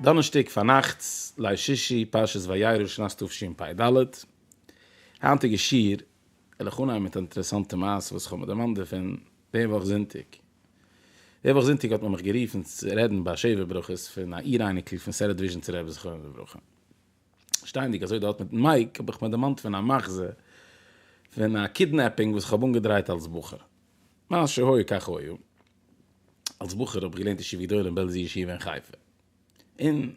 דאנערשטאג פארנאכטס ליל שישי פרשת וירא שנת תשפ ד, היינטיגע שיעור וויל איך אנהייבן מיט א אינטערעסאנטע מעשה וואס איך האב מיר דערמאנט דערפון די וואך זונטאג, די וואך זונטאג האט מען מיך גערופן צו רעדן ביי שבע ברכות פון א איר אייניקל פון סערעט וויזשניצער רבי זכרונו לברכה, שטייענדיג אזוי דארט מיטן מייק האב איך מיר דערמאנט פון א מחזה פון א קידנעפינג וואס כ'האב אנגעדרייט אלס בחור. מה שהיה כך היה. אלס בחור האב איך געלערנט ישיבה גדולה אין בעלזער ישיבה אין חיפה. און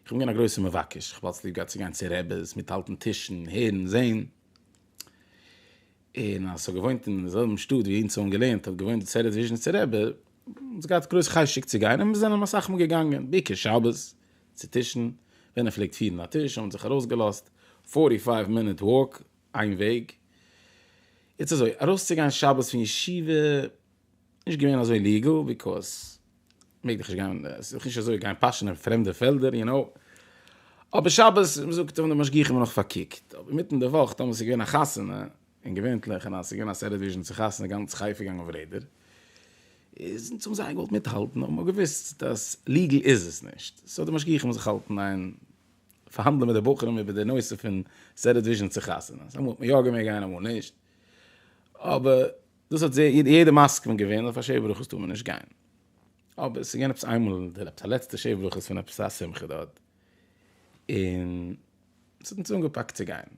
איך בין געווען א גרויסער מבקש, כ'האב אלץ ליב געהאט צו גיין צו רעבעס, מיטהאלטן טישן, הערן, זען. און אז כ'האב געוואוינט אין די זעלבן שטאט ווי אונז האבן געלערנט האט געוואוינט די סערעט וויזשניצער רבי, האט מען געהאט גרויס חשק צו גיין און מיר זענען אסאך מאל געגאנגען, בעיקר שבת, צו טישן, ווען ער פלעגט פירן א טיש האבן זיך ארויסגעלאזט פארטי פייוו מינוט וואק איין וועג, איצט אזוי ארויסצוגיין שבת פון ישיבה איז נישט געווען אזוי ליגעל ביקאוז מעג דיך נישט גיין עס איז נישט אזוי גיין פאשען אין פרעמדע פעלדער יו נאו, אבער שבת מ'זאגט און די משגיחים האבן נאך פארקוקט, אבער אינמיטן די וואך טאמער ס'איז געווען א חתונה און געווענטליך און אז ס'איז געווען א סדר וויזשען צו חתונה גאנץ חיפה געגאנגען אויף רעדער איז אונז האבן זייער געוואלט מיטהאלטן נאר מ'האט געוואוסט אז ליגעל איז עס נישט סאו די משגיחים האבן זיך געהאלטן איין פארהאנדלען מיט די בחורים איבער די נושא פון סדר וויזשען צו חתונה אז אמאל האט מען יא געמעגט גיין אמאל נישט אבער דאס האט יעדער מסכים געווען אז אויף א שבע ברכות טאר מען נישט גיין אבער ס'איז געווען עפעס איינמאל עפעס א לעצטע שבע ברכות פון עפעס א שמחה דארט און ס'האט אונז אנגעפאקט צו גיין.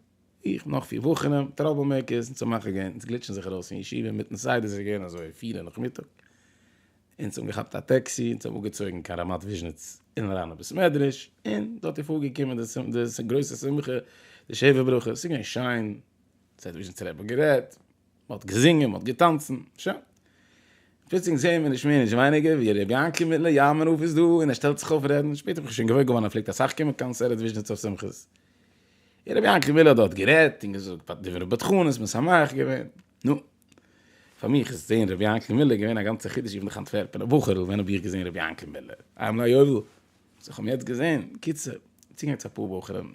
איך נאך פֿיר וואכען טראבל מעיקערס און צו מאכער גענט אונז גליטשען זיך ארויס פון ישיבה אינמיטן סדר סאיז געווען אזוי פֿיר אין נאכמיטאג אונז האבן געכאפט א טעקסי אונז האבן אפגעצויגען קיין רמת וויזשניץ אין אריין אין בית מדרש און דארט איז פארגעקומען די גרויסע שמחה די שבע ברכות סאיז געווען שיין סהאט וויזשניץ רבי האט גערעדט מהאט געזינגען מהאט געטאנצען שוין פלוצלינג זעהן מיר נישט מער נישט ווייניגער ווי רבי יענקל מיטלער יאמער אויף איז דא און ער שטעלט זיך אויף רעדן שפעטער האב איך שוין געוואויר געווארן ער פלעגט אסאך קומען קיין סערעט וויזשניץ אויף שמחות. און רבי יענקעלע האט דארט גערעדט און געזאגט דברי בדחנות, משמח געווען. נו, פאר מיך איז זעהן רבי יענקעלע מיללער געווען א גאנצע חידוש, איך בין דאך א אנטווערפענער בחור'ל, ווען האב איך געזעהן רבי יענקעלע מיללער? איי עם נאו יובל, וואס איך האב יעצט געזעהן, קיצור, צוגענגען צו אפאר בחורים,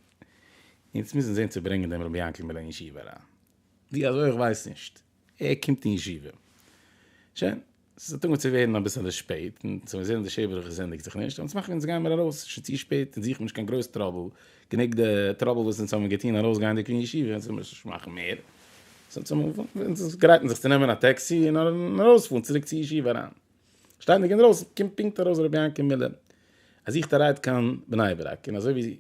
אונז מוזן זעהן צו ברענגען דעם רבי יענקעלע מיללער אין ישיבה אריין. ווי אזוי? איך ווייס נישט, ער קומט אין ישיבה. שוין. ס'איז אנטונגען צו ווערן אביסעלע שפעט, און צו מיר זעהן אז די שער ברכה ענדיגט זיך נישט, אלס מאכן אונז גיין מיר ארויס, ס'איז שוין צו שפעט, אונז זוכן נישט קיין גרויס טראבל, גענוג די טראבל וואס אונז האבן געטון ארויסגייענדיג פון ישיבה, אונז מוז נישט מאכן מער, אונז גרייטן זיך צו נעמען א טעקסי און ארויספארן צוריק צו ישיבה אריין. שטייענדיג אינדרויסן קומט פונקט ארויס ר' יענקי מילער. ער זוכט א רייד קיין בני ברק, און אזוי ווי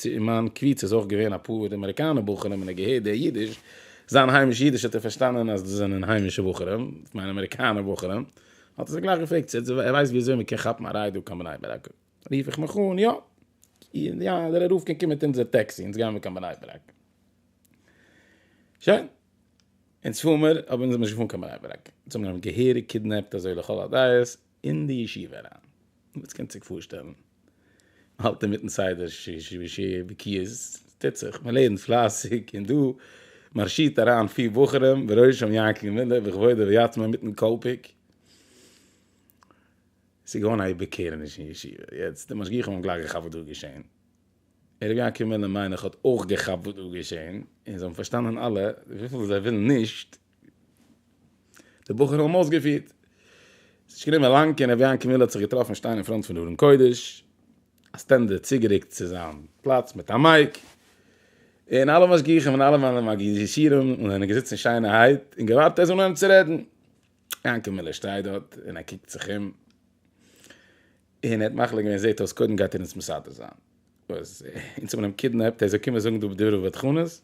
אין מיין קבוצה איז אויך געווען אפאר אמעריקאנע בחורים און ער געהערט די אידיש, זיין היימיש אידיש האט ער פארשטאנען אז דאס זענען היימישע בחורים, איך מיין אמעריקאנע בחורים, האט ער זיך גלייך געפרעגט צו ער ווייסט ווי אזוי מען קען כאפן א רייד דא קיין בני ברק, רוף איך מיך אן יא, יא דער ערוב קען קומען מיט אונזער טעקסי, אונז גייען מיר קיין בני ברק. שוין, אונז פאר מיר, אבער אונז זענען נישט געפארן קיין בני ברק, אונז האבן אים געהעריג קידנעפט אזוי לכל הדעות, אין די ישיבה אריין, וואס קענט זיך פארשטעלן, מ'האלט אינמיטן סדר ש ש ו ש ו בקיאות, ס'טוט זיך, מ'לערנט פלייסיג, און דא מארשירט אריין פיר בחורים בראשם יענקל מיללער בכבודו ויתמו מיטן קאלפיק, ס'איז געווארן א איבערקערעניש אין ישיבה, יעצט די משגיחים האבן גלייך געכאפט וואס דא איז געשען, און ר' יענקל מיללער מיין איך האט אויך געכאפט וואס דא איז געשען, און זיי האבן פארשטאנען אלע, וויפיל זיי ווילן נישט, די בחורים האבן אויסגעפירט. עס איז נישט גענומען לאנג און רבי יענקעמיל האט זיך געטראפן שטיין אין פראנט פון ארון קודש, א סטענדער צוגערוקט צו זיין פלאץ מיט א מייק, און אלע משגיחים און אלע מנהלים הגישירים זענען געזיצן שיינערהייט און געווארט ער זאל אנהויבן צו רעדן. יענקעמיל שטייט דארט און ער קוקט זיך אום, און ער האט מחליט געווען, זעט אויס קודם גייט ער אונז מסדר זיין, וואס אונז האבן אים קידנעפט, ער זאל קומען זאגן דא דברי בדחנות?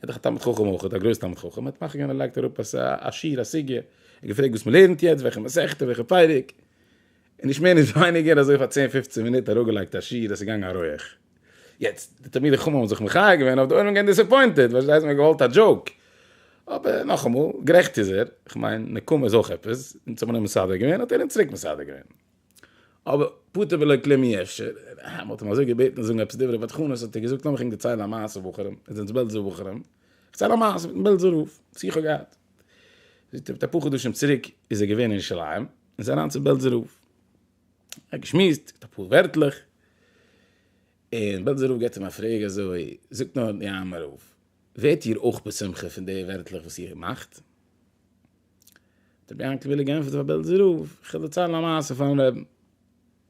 ער איז דאך א תלמיד חכם אויכעט, א גרויס תלמיד חכם, מ'האט מחכים און ער לייגט אראפ א שיעור, א סוגיא, און געפרעגט וואס מ'לערנט יעצט, וועלכע מסכתא, וועלכע פרק, און נישט מער נישט ווייניגער, אזוי פאר צען פופצן מינוט אראפגעלייגט א שיעור, עס איז געגאנגען א רויעך. יעצט, די תלמידי חכמים האבן זיך מחיה געווען, אויף די עולם געווען דיסעפוינטעד, פארשטייסט, מ'האט געוואלט א דזשאוק. אבער, נאכאמאל, גערעכט איז ער, כ'מיין, נקמה איז אויך עפעס, אונז האט מען אים מסדר געווען, האט ער אונז צוריק מסדר געווען. אבער פטור ולא כלום אי אפשר, אה, מ'האט אים אזוי געבעטן זאגן עפעס דברי בדחנות האט ער געזאגט לאמיך ענק דערציילן א מעשה בחורים, אונז זענען בעלזער בחורים, כ'צייל א מעשה מיטן בעלזער רב, שיחה געהאט, זאגט ער מיט אפאר חדשים צוריק איז ער געווען אין ירושלים, און איז אריין צום בעלזער רב, ער האט געשמועסט, געזאגט אפאר ווערטלעך, און בעלזער רב געבט אים א פרעג אזוי, זאגט נאר די עמי רב, ווערט איר אויך בשמחה פון די ווערטלעך וואס איר מאכט? האט רבי יענקעלע געענטפערט פאר בעלזער רב, איך וועל דערציילן א מעשה פארן רעבן,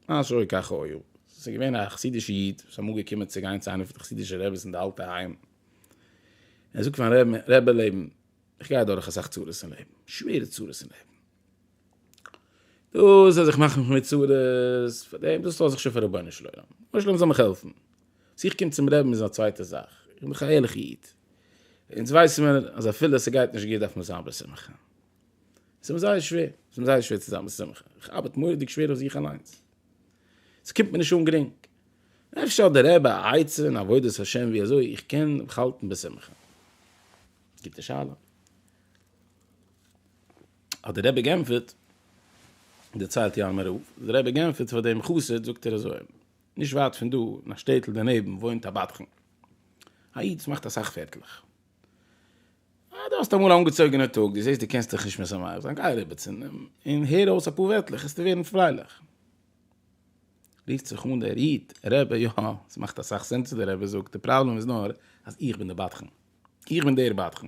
מה שהיה כך היה, עס איז געווען א חסידישע איד וואס איז אמאל געקומען צו גיין צו איינע פון די חסידישע רעבעס אין די אלטע היים, ער זאגט פארן רעבן, רעבע לעבן, איך גיי אדורך אסאך צרות אין לעבן, שווערע צרות אין לעבן, דאס אז איך מאך מיך מיט צרות, פאר דעם דאס לאז איך שוין פאר רבונו של עולם, רבונו של עולם זאל מיך העלפן. צו איך קום צום רעבין איז א צווייטע זאך, איך בין דאך א ערליכע איד, אונז ווייסן מיר אז אפילו ס'גייט נישט גוט דארף מען זיין בשמחה, ס'איז מיר זייער שווער, ס'איז מיר זייער שווער צו זיין בשמחה, איך ארבעט מורא'דיג שווער אויף זיך אליינס, ס'קומט מיר נישט אן גרינג, אפשר האט דער רבי א עצה אין עבודת השם ווי אזוי איך קען מיך האלטן בשמחה? גוטע שאלה. האט דער רבי גענטפערט, דערציילט ינמ רב, דער רבי גענטפערט פאר דעם חסיד זאגט ער אזוי, נישט ווייט פון דא, אין א שטעטל דערנעבן, וואוינט א בדחן. א איד וואס מאכט אסאך פערטלעך. אה, דו האסט אמאל א אנגעצויגענער טאג, דו זעסט דו קענסט דיך נישט משמח זיין, גיי אריבער צו אים, און הער אויס אפאר ווערטלעך, וועסטו ווערן פרייליך. רופט זיך אן דער איד, רבי, יא, עס מאכט אסאך סענס וואס דער רבי זאגט, די פראבלעם איז נאר אז איך בין די בדחן. איך בין דער בדחן.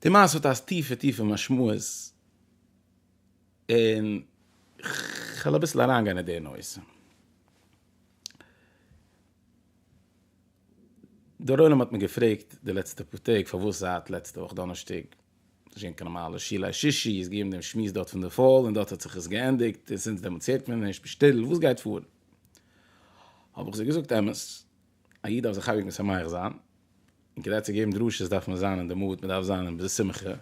די מעשה האט א טיפע טיפע משמעות. און כ'וועל אביסל אריינגיין אין די נושא. דער עולם האט מיר געפרעגט די לעצטע פאר טעג פארוואס זייט לעצטע וואך דאנערשטאג איז נישט געווען קיין נארמאלע שיל היי שישי, איז געווען דעם שמועס דארט פון די פאל און דארט האט זיך עס געענדיגט און זינט דעמאלטס הערט מען נישט, בשטערל וואס גייט פאר? האב איך זיי געזאגט אמת, א איד דארף זיך אייביג משמח זיין, און כדי צו געבן דרשות דארף מען זיין אין די מוד, מען דארף זיין אין די שמחה,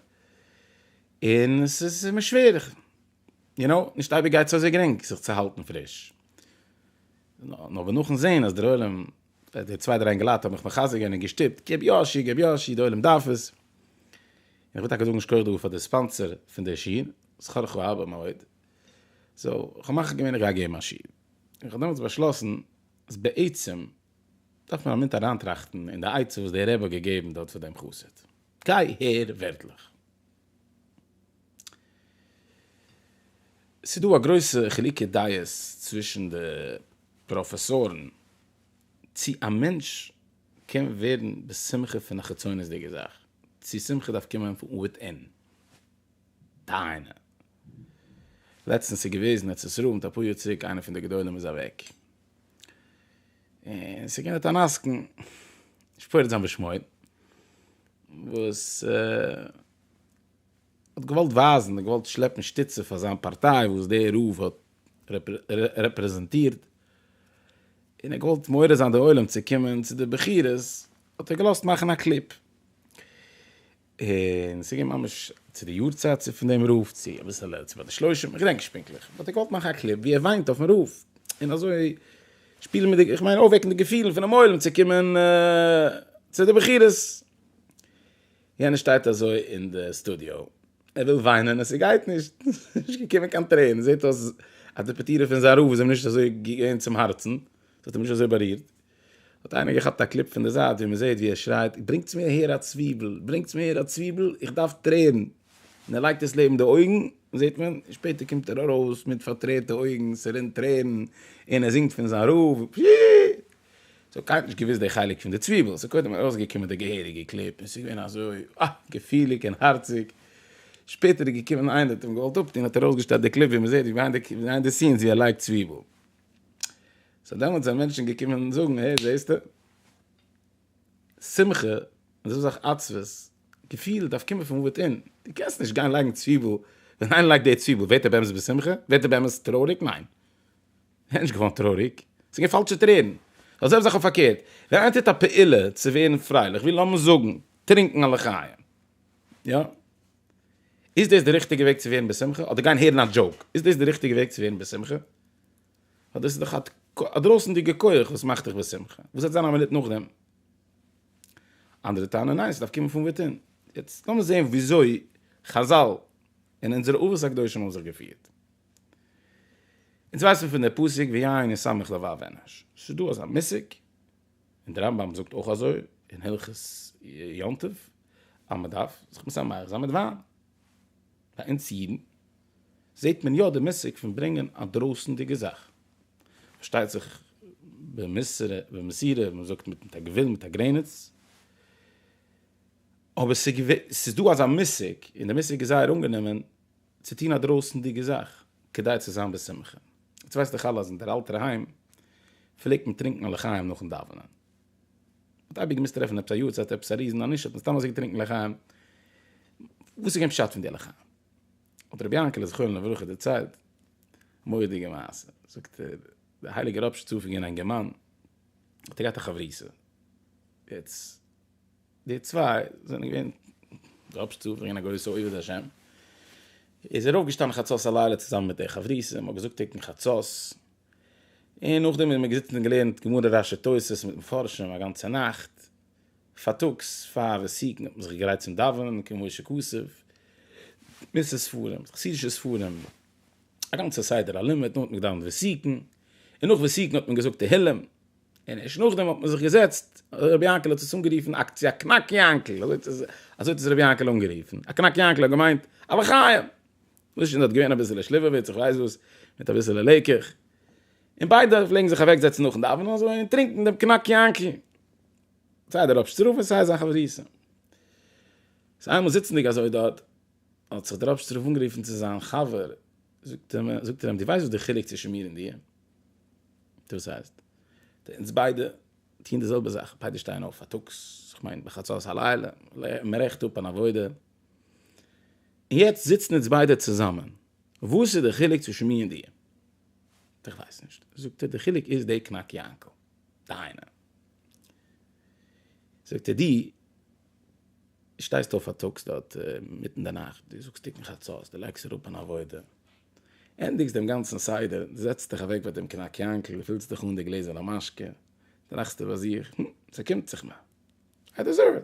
און עס איז מיר שווער, איך, יו נאו, נישט אייביג גייט עס אזוי גרינג זיך צו האלטן פריש. נאר ווען נאכן זעהן אז דער עולם, די צוויי דריי אינגעלייט האבן מיך מחזק געווען און געשטופט, גיב יא א שיר, גיב יא א שיר, דער עולם דארף עס. און איך וויל טאקע זאגן יישר כח דא פאר די ספאנסער פון דער שיר, שכרך הרבה מאוד. סאו, איך האב מחליט געווען איך גיי געבן א שיר. און איך האב דעמאלטס באשלאסן אז בעצם דארף מען א מינוט אריינטראכטן אין די עצה וואס דער רבי האט געגעבן דארט פאר דעם חסיד. גיי הער ווערטלעך. ס'איז דא א גרויסע חילוקי דעות צווישן די פראפעסארן צי א מענטש קען ווערן בשמחה פון א חיצונית'דיגע זאך, צי שמחה דארף קומען פון וויטין. דיינע. לעצטנס איז געוועזן עצרת רב מיט אפאר יאר צוריק איינער פון די גדולים איז אוועק. און ס'איז געווען דארט אן עסקן, נישט פורד זיין בשמו, וואס האט געוואלט ווייזן, האט געוואלט שלעפן שטיצע פאר זיין פארטיי וואס דער רב האט רעפרעזענטירט, און ער האט געוואלט מעורר זיין די עולם צו קומען צו די בחירות, האט ער געלאזט מאכן א קליפ, און ס'איז געווען ממש צו די יארצייט צו פון דעם רב, צו אביסעלע צו ביי די שלושים, איך געדענק נישט פונקטליך, וואלט איך געוואלט מאכן א קליפ ווי ער וויינט אויפן רב, און אזוי שפילן מיט די, איך מיין אויפוועקן די געפילן פונעם עולם צו קומען צו די בחירות. יענער שטייט אזוי אין די סטודיאו, ער וויל וויינען און ס'גייט נישט, נישט געקומען קיין טרערן, זעט אויס אז די פטירה פון זיין רב איז אים נישט אזוי געווען צום הארצן, ס'האט אים נישט אזוי בארירט, האט איינער געכאפט א קליפ פון די זייט ווי מ'זעהט ווי ער שרייט ברענגטס מיר אהער א צוויבל! ברענגטס מיר אהער א צוויבל! איך דארף טרערן! און ער לייגט עס לעבן די אויגן זעהט מען, און שפעטער קומט ער ארויס מיט פארטרערטע אויגן ס'רינט טרערן און ער זינגט פון זיין רב פי. ס'האט קיינער נישט געוויסט די חלק פון די צוויבל ס'איז קודם ארויסגעקומען די געהעריגע קליפ און ס'איז געווען אזוי אה געפיליג און הארציג שפעטער איז געקומען איינער האט אים געוואלט אפטון האט ער ארויסגעשטעלט די קליפ ווי מ'זעהט ביהיינד די סינס ווי ער לייגט צוויבל. סאו דעמאלטס זענען מענטשן געקומען זאגן, העי זעסטע, שמחה און אזוי סאך עצבות, געפיל דארף קומען פון וויט אין, דו קענסט נישט גיין לייגן צוויבל, ווען איינער לייגט די צוויבל ווערט ער באמת בשמחה? ווערט ער באמת טרויעריג? ניין. ער איז נישט געווארן טרויעריג, עס איז געווען פאלשע טרערן. די זעלבע זאך אויף פארקערט, ווען איינער טוט א פעולה צו ווערן פרייליך, ווי לאמיר זאגן, טרינקן א לחיים, יא? איז דאס די ריכטיגע וועג צו ווערן בשמחה? אדער גיין הערן א דזשאוק? איז דאס די ריכטיגע וועג צו ווערן בשמחה? ווייל דאס איז דאך א דרויסנדיגע כח וואס מאכט דיך בשמחה. וואס וועט זיין א מינוט נאכדעם? אנדערע טענה'ן ניין, ס'דארף קומען פון וויטין. יעצט לאמיר זען וויאזוי חזל און אונזערע אבות הקדושים האבן זיך געפירט. אונז ווייסן פון די פסוק ויין ישמח לבב אנוש. ס'איז דא אזא מושג. און דער רמב ם זאגט אויך אזוי אין הלכות יום טוב אז מען דארף זיך משמח זיין מיט וויין. ביי אונז אידן זעט מען יא די מושג פון ברענגען א דרויסנדיגע זאך, פארשטייט זיך במסורה במסירה ווי מען זאגט מיט א גבול מיט א גרעניץ, אבער ס'איז דא אזא מושג און דער מושג איז זייער אנגענומען צו טון א דרויסנדיגע זאך כדי צו זיין בשמחה. יעצט ווייסט דאך אלע אז אין דער אלטער היים פלעגט מען טרינקן א לחיים נאכן דאווענען. מען האט אייביג געמוזט טרעפן עפעס א יארצייט, עפעס א ריזן ענישא, און סתם אזוי געטרינקן לחיים. וואס איז געווען פשט פון די לחיים? האט רבי יענקעלע זכרונו לברכה דערציילט א מורא'דיגע מעשה. זאגט ער, דער הייליגער רבש ע צו פון גענאנגען מאן האט ער געהאט א חברותא. יעצט. די צוויי זענען געווען דראפס צו ברענגען א גרויסע עובד השם. איז ער אויפגעשטאנען חצות הלילה צוזאמען מיט די חברותא, מ'האט געזאגט תיקון חצות, און נאכדעם איז מען געזיצן און געלערנט גמרא רש י תוס' מיט מפרשים א גאנצע נאכט, פארטאגס פאר וועסיקן האט מען זיך געגרייט צום דאווענען, כ ק משה קאסוב, מס' ספרים, חסידישע ספרים, א גאנצע סדר הלימוד, דאן האט מען געדאווענט וועסיקן, און נאך וועסיקן האט מען געזאגט תהילים. און ערשט נאכדעם האט מען זיך געזעצט, ר' יענקל האט עס אנגערופן אקציע קנאק יענקל, אזוי האט עס, אזוי האט עס ר' יענקל אנגערופן, א קנאק יענקל האט געמיינט א לחיים, וואס שוין דארט געווען אביסעלע שליוועוויץ איך ווייס וואס, מיט אביסעלע לעיקעך, און ביידע פלעגן זיך אוועק זעצן נאכן דאווענען אזוי און טרינקן דעם קנאק יענקל, סיי דער רב שטראף און סיי זיין חברותא. סאו איינמאל זיצנדיג אזוי דארט, האט זיך דער רב שטראף אנגערופן צו זיין חבר, זאגט ער אים, דו ווייסט וואס דער חילוק צווישן מיר און דיר? דאס הייסט, אונז ביידע טוען די זעלבע זאך, ביידע שטייען אויף פארטאגס, איך מיין בחצות הלילה, מען רעכט אפ אן עבודה, און יעצט זיצן אונז ביידע צוזאמען, וואס איז די חילוק צווישן מיר און דיר? איך ווייס נישט, זאגט ער, די חילוק איז די קנאק יאנקל, דיינע, זאגט ער, דו שטייסט אויף פארטאגס דארט מיט אין די נאכט, דו זאגסט תיקון חצות, דו לייגסט אראפ אן עבודה, ענדיגסט דעם גאנצן סדר, זעצסט דיך אוועק ביי דעם קנאק יאנקל, פילסט דיך אן די גלעזערנע משקה, טראכסטו ביי זיך, הום, ס'קומט זיך מיר. איי דעזערוו איט.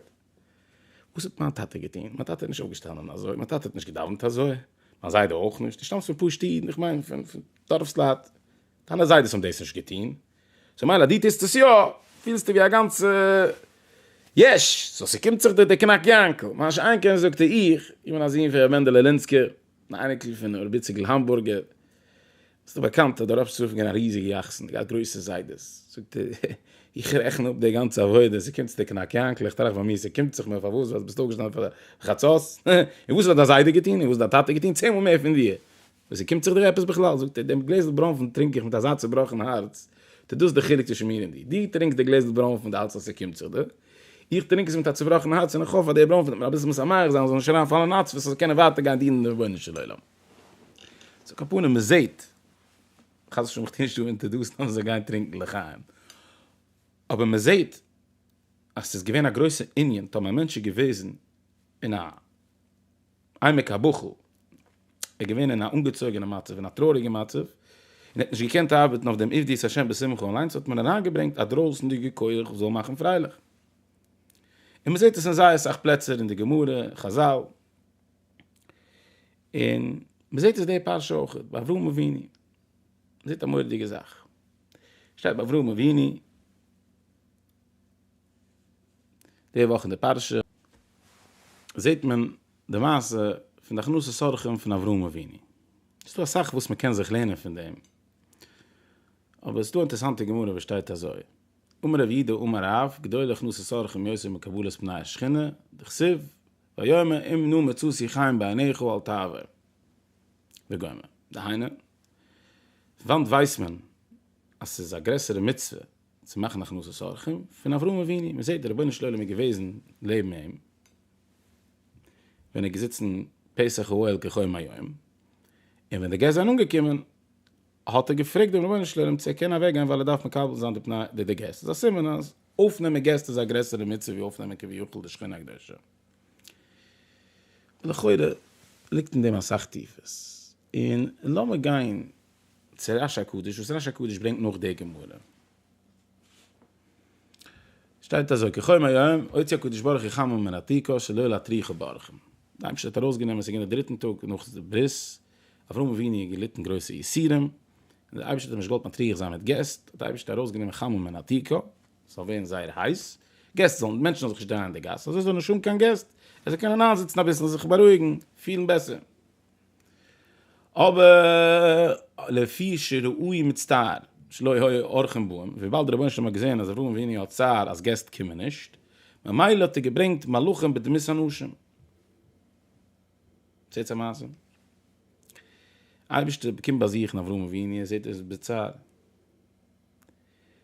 וואס האט מיין טאטע געטון? מיין טאטע איז נישט אויפגעשטאנען אזוי, מיין טאטע האט נישט געדאוונט אזוי, מיין זיידע אויך נישט, דו שטאמסט פון פשוטע אידן, איך מיין פון דארפס לייט, דיינע זיידעס האבן דאס נישט געטון, סאו מילא אז דו טוסט עס יא, פילסטו ווי א גאנצע יש, סאו ס'קומט זיך דיר דער קנאק יאנקל. מה שאין כן זאגט ער, איך, איך בין א זון פון ר' מענדעלע לינסקער, אן אייניקל פון הרב איציקל האמבורגער, וואס איז באקאנט אז דער רב שליט א פלעגט גיין א ריזיגע יאכט'ס און געהאט גרויסע זיידעס, זאגט ער, איך רעכן אפ די גאנצע עבודה, ס'קומט צו די קנאק יאנקל, איך טראכט ביי מיר, ס'קומט זיך מיר פארוואס ווייל דו ביסט אויפגעשטאנען פאר חצות, און וואס האט דיין זיידע געטון, און וואס האט דיין טאטע געטון צען מאל מער פון דיר, און ס'קומט זיך דיר עפעס בכלל, זאגט ער, דעם גלעזל ברוינפן טרינק איך מיט אזא צובראכן הארץ, ט'איז דאס די חילוק צווישן מיר און דיר, דו טרינקסט די גלעזל ברוינפן ווייל דו האלטסט אז ס'קומט זיך דיר, איך טרינק עס מיט א צובראכן הארץ און איך האף אז דער ברוין וועט מיר אביסל משמח זיין זאל נישט אריין פאלן אין עצבות זאל קענען ווייטער גיין דינען דעם רבונו של עולם. צו קאפאנען מען זעהט חס ושלום איך טוה נישט דא אינטערדאסן אז מען זאל גיין טרינקן לחיים אבער מען זעהט אז ס'איז געווען א גרויסע ענין טאמער א מענטש איז געוועזן אין א עמק הבכא, ער איז געווען אין א אנגעצויגענע מצב, אין א טרויעריגע מצב, און ער האט נישט געקענט ארבעטן אויף דעם עבדי את השם בשמחה אליינס, האט מען אריינגעברענגט א דרויסענדיגע כח וואס זאל מאכן פרייליך. און מען זעט עס אין זייער אסאך פלעצער אין די גמרא, חזל, און מען זעט עס די פרשה אויך, ביי אברהם אבינו, מען זעט א מורא'דיגע זאך, שטייט ביי אברהם אבינו, די וואך אין די פרשה זעט מען די מעשה פון די הכנסת אורחים פון אברהם אבינו. עס איז דא אסאך וואס מען קען זיך לערנען פון דעם, אבער עס איז דא א אינטערעסאנטע גמרא וואס שטייט אזוי, אמר רב יהודה אמר רב, גדול הכנסת אורחים יותר מקבלת פני השכינה, דכסיב, ויאמר אם נא מצאתי חן בעיניך אל תעבר. וגומר. דהיינו, פון וואנט ווייסט מען אז עס איז א גרעסערע מצוה צו מאכן הכנסת אורחים פון אברהם אבינו, מ'זעט דער רבונו של עולם איז געוועזן לעבן אים, ווען ער איז געזיצן פסח אוהל כחום היום, און ווען די געסט זענען אנגעקומען האט ער געפרעגט דעם רבונו של עולם צו ער קען אוועק גיין ווייל ער דארף מקבל זיין די פני די די געסט, איז א סימן אז אויפנעמען געסט איז א גרעסערע מצוה ווי אויפנעמען כביכול די שכינה הקדושה. לכאורה ליגט אין דעם אסאך טיפעס, און לאמיר גיין צו רש הקדוש וואס רש הקדוש ברענגט נאך די גמרא שטייט אזוי כחום היום הוציא הקדוש ברוך הוא חמם מן התיקו שלא להטריחו באורחים די אייבערשטער האט ארויסגענומען עס איז געווען די דריטן טאג נאך די ברית אברהם אבינו האט געליטן גרויסע יסורים און די אייבערשטער האט אים נישט געוואלט מטריח זיין מיט געסט האט די אייבערשטער ארויסגענומען חמם מן התיקו ס'זאל ווערן זייער הייס געסט זאלן מענטשן זאלן זיך נישט דרייען אין די גאס אזוי זאל נישט האבן קיין געסט ער זאל קענען איינזיצן אביסל זיך בארואיגן פילן בעסער. אבער לפי שראוי מצטער שלא היה אורחים באים, וויבאלד דער רבונו של עולם האט געזען אז אברהם אבינו האט צער אז געסט קומען נישט, ממילא האט ער געברענגט מלאכים בדמות אנשים. זעהטס א מעשה? אייבערשטער קומט באזוכן אברהם אבינו און זעהט ער איז בצער,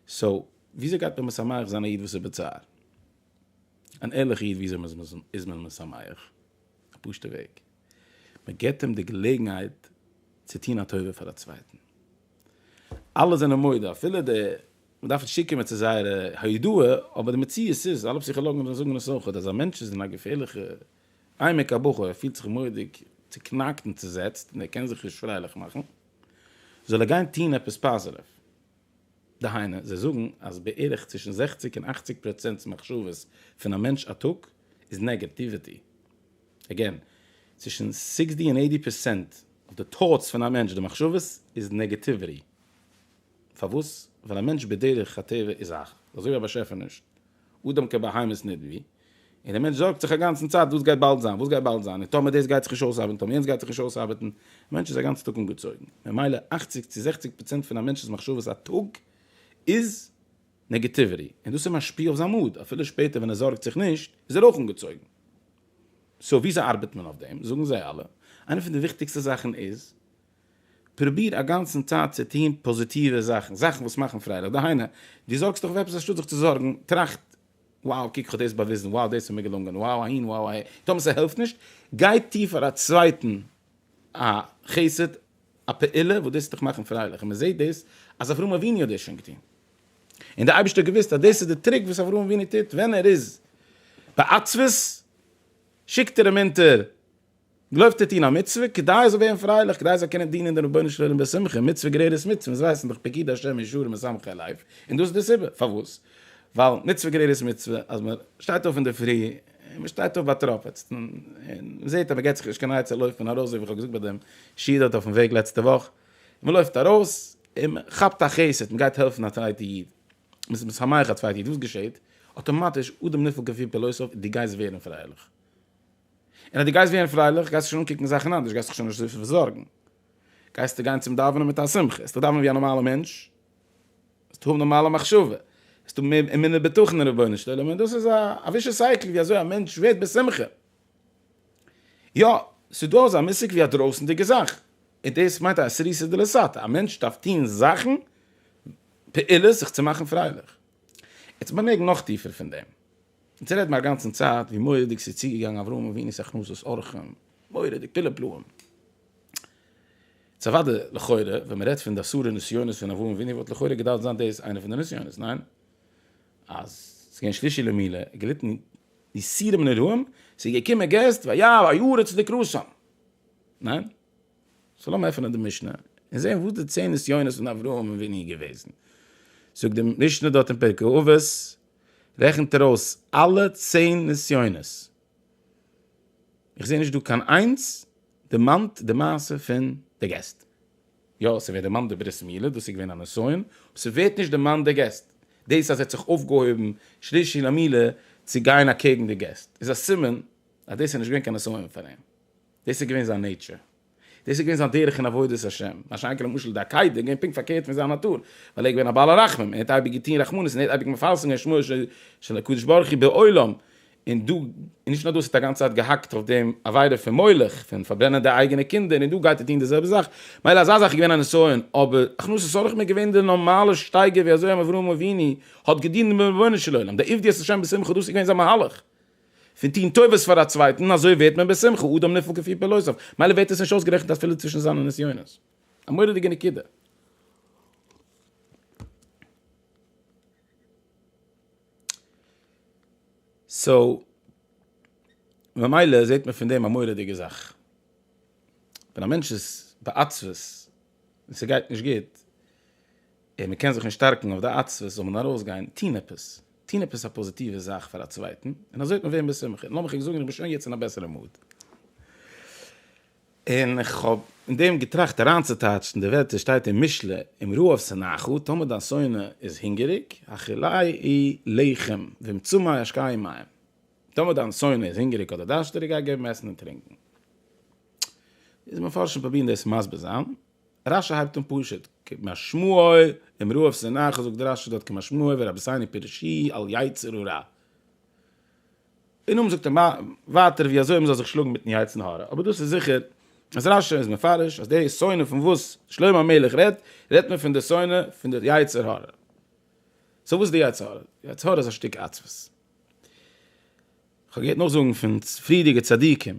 סאו וויאזוי גייט מען משמח זיין א איד וואס איז בצער? אן ערליכע איד וויאזוי איז מען משמח? א פשוטע וועג. מען געבט אים די געלעגנהייט צו טון א טובה פאר א צווייטן, אלע זענען מודה אפילו די, מען דארף נישט צוקומען צו זייערע הודאה, אבער די מציאות איז, אלע פסיכאלאגן זאגן עס אויך, אז א מענטש איז אין א געפערליכע עמק הבכא, ער פילט זיך מורא'דיג צוקנאקט און צוזעצט און ער קען זיך נישט פרייליך מאכן, זאל ער גיין טון עפעס פאזיטיוו. דהיינו, זיי זאגן אז בערך צווישן זעכציק און אכציג פראצענט מחשבות פון א מענטש א טאג איז נעגעטיוויטי. אגעין, צווישן סיקסטי און עיטי פערסענט אוו די טאוטס פון א מענטש, די מחשבות, איז נעגעטיוועטי. פארוואס? ווייל א מענטש בדרך הטבע איז א. אזוי ווי א באשעפער נישט. אדם כבהמות נדבי. און דער מענטש זארגט זיך אגאנצן צייט וואס גייט באלד זיין, וואס גייט באלד זיין, און טאמער דאס גייט זיך נישט אויסארבעטן, טאמער יענץ גייט זיך נישט אויסארבעטן. א מענטש איז א גאנץ טאג אנגעצויגן. ממילא אכציג צו זעכציג פראצענט פון א מענטש'ס מחשבות א טאג איז נעגעטיוויטי, און דאס איז משפיע אויף זיין מאד, אפילו שפעטער ווען ער זארגט זיך נישט, איז ער אויך אנגעצויגן. סאו וויאזוי ארבעט מען אויף דעם? זאגן זיי אלע, איינע פון די וויכטיגסטע זאכן איז, פרוביר א גאנצן צייט צו טון פאזיטיווע זאכן, זאכן וואס מאכן פרייליך, דהיינו, דו זארגסט דיך אויף עפעס, אנשטאט זיך צו זארגן, טראכט, wow, קוק כ'האב דאס באוויזן, wow, דאס איז מיר געלונגען, wow, אהין, wow, אהער, טאמער ס'העלפט נישט, גיי טו פאר א צווייטן א חסד, א פעולה וואס דאס וועט דיך מאכן פרייליך, און מען זעט דאס אז אברהם אבינו האט דאס שוין געטון, און דער אייבערשטער האט געוואוסט אז דאס איז דער טריק וואס אברהם אבינו טוט ווען ער איז בעצבות, שיקט ער אים אונטער, גלויבט ער טון א מצוה, כדי ער זאל ווערן פרייליך, כדי ער זאל קענען דינען דעם רבונו של עולם בשמחה, מצוה גרערערס מצוה, אונז ווייסן דאך פקיד השם ישרים משמחי לב, און דאס איז די סיבה, פארוואס? ווייל מצוה גרערערס מצוה, אז מען שטייט אויף אינדערפרי, און מען שטייט אויף באטראפעצט און מען זעט אז מען געט זיך נישט קיין עצה לויפן ארויס ווי איך האב געזאגט ביי דעם שיעור דארט אויפן וועג לעצטע וואך, און מען לויפט ארויס און מען כאפט א חסד, מען גייט העלפן א צווייטע איד, מען איז משמח א צווייטע איד, וואס געשעט? אטאמאטיש אדם נפעל כפי פלוסיו, דו גייסט ווערן פרייליך. און אז דו גייסט ווערן פרייליך גייסטו שוין אנקוקן זאכן אנדערש, גייסט דיך שוין נישט זארגן, גייסטו גיין צום דאווענען מיט א שמחה, עסטו דאווענען ווי א נארמאלע מענטש, זאלסטו האבן נארמאלע מחשבה, זאלסטו האבן אמונה בטחון אין רבונו של עולם, און דאס איז א ווישעס סייקל ווי אזוי א מענטש ווערט בשמחה. יא, ס'איז דא אזא מושג ווי א דרויסנדיגע זאך, און דאס מיינט א סריסא דלסתא, א מענטש דארף טון זאכן, פעולות זיך צו מאכן פרייליך. יעצט מיר מעג נאך טיפער פון דעם. יעצט רעד מיר א גאנצן צייט ווי מורא'דיג ס'איז צוגעגאנגען אברהם אבינו'ס הכנסת אורחים, מורא'דיג, פילע פלאים. איז אוודאי לכאורה ווען מ'רעדט פון די אסורי נסיונות פון אברהם אבינו וואלט לכאורה געדארפט זיין דאס איינע פון די נסיונות, ניין? אז ס'איז געווען שלישי למילה, ער האט געליטן יסורים נוראים, ס'איז געקומען געסט, ויבא היארצייט לקראתם, ניין? סאו לאמיר עפענען די משנה און זעהן וואס די צען נסיונות פון אברהם אבינו איז געוועזן. זאגט די משנה דארט אין פרקי אבות, רעכנט ער אויס אלע צען נסיונות. איך זעה נישט דא קיין איינס דערמאנט די מעשה פון די געסט. יא, ס'ווערט דערמאנט די ברית מילה, דאס איז געווען א נסיון, אבער ס'ווערט נישט דערמאנט די געסט. דאס אז ער האט זיך אויפגעהויבן שלישי למילה צו גיין אקעגן די געסט, איז א סימן אז דאס איז נישט געווען קיין נסיון פאר אים. דאס איז געווען זיין נעיטשער. דאס איז געווען זיין דרך אין עבודת השם, מה שאין כן למשל די עקידה איז געווען פונקט פארקערט פון זיין נאטור, ווייל ער איז געווען א בעל הרחמים, ער האט אייביג געטון רחמנות און ער האט אייביג מפרסם געווען שמו של הקדוש ברוך הוא בעולם, און דא, און נישט נאר דאס, ער האט א גאנצע צייט געהאקט אויף דעם עבירה פון מולך, פון פארברענען די אייגענע קינדער, און דא גייט ער טון די זעלבע זאך, מילא אזא זאך איז געווען א נסיון, אבער הכנסת אורחים איז געווען די נארמאלע שטייגער ווי אזוי אברהם אבינו האט געדינט דעם רבונו של עולם, די עבדות השם בשמחה דאס איז געווען זיין מהלך. פון טון טובות פאר א צווייטן, אזוי ווערט מען בשמחה אדם נפעל כפי פעלותיו, מילא ווערט עס נישט אויסגערעכנט אפילו צווישן זיינע נסיונות. א מורא'דיגע נקודה. סאו, ממילא זעט מען פון דעם א מורא'דיגע זאך. ווען א מענטש איז בעצבות און ס'גייט נישט גוט, און מ'קען זיך נישט שטארקן אויף די עצבות, זאל מען ארויסגיין, טון עפעס, טון עפעס א פאזיטיווע זאך פאר א צווייטן, און אזוי וועט מען ווערן בשמחה, און לאמיך ענק זאגן, איך בין שוין יעצט אין א בעסערע מוד, און איך האב אין דעם געטראכט אריינצוטייטשן די ווערטער שטייט אין משלי, אם רעב שנאך, טאמער דיין שונא איז הונגעריג, האכילאי י לחם, ואם צמא ישקאי מים, טאמער דיין שונא איז הונגעריג אדער דארשטעריג, גיי געב אים עסן און טרינקען. איז מפרשים פרובירן דאס מסביר זיין, רש י הייבט אן פשוט, כמשמעו אמרו אויף שנאה כזאגט די רש י דארט כמשמעו ורבותינו פירושי על יצר הרע. און אויבן זאגט ער ווייטער ווי אזוי מ'זאל זיך שלאגן מיטן יצר הרע, אבער דאס איז זיכער אז רש י איז מפרש אז די שנאה פון וואס שלמה המלך רעדט, רעדט מען פון די שנאה פון די יצר הרע. סאו וואס איז די יצר הרע? די יצר הרע איז א שטיק עצבות. כ'האב געהערט נאכזאגן פון פריערדיגע צדיקים.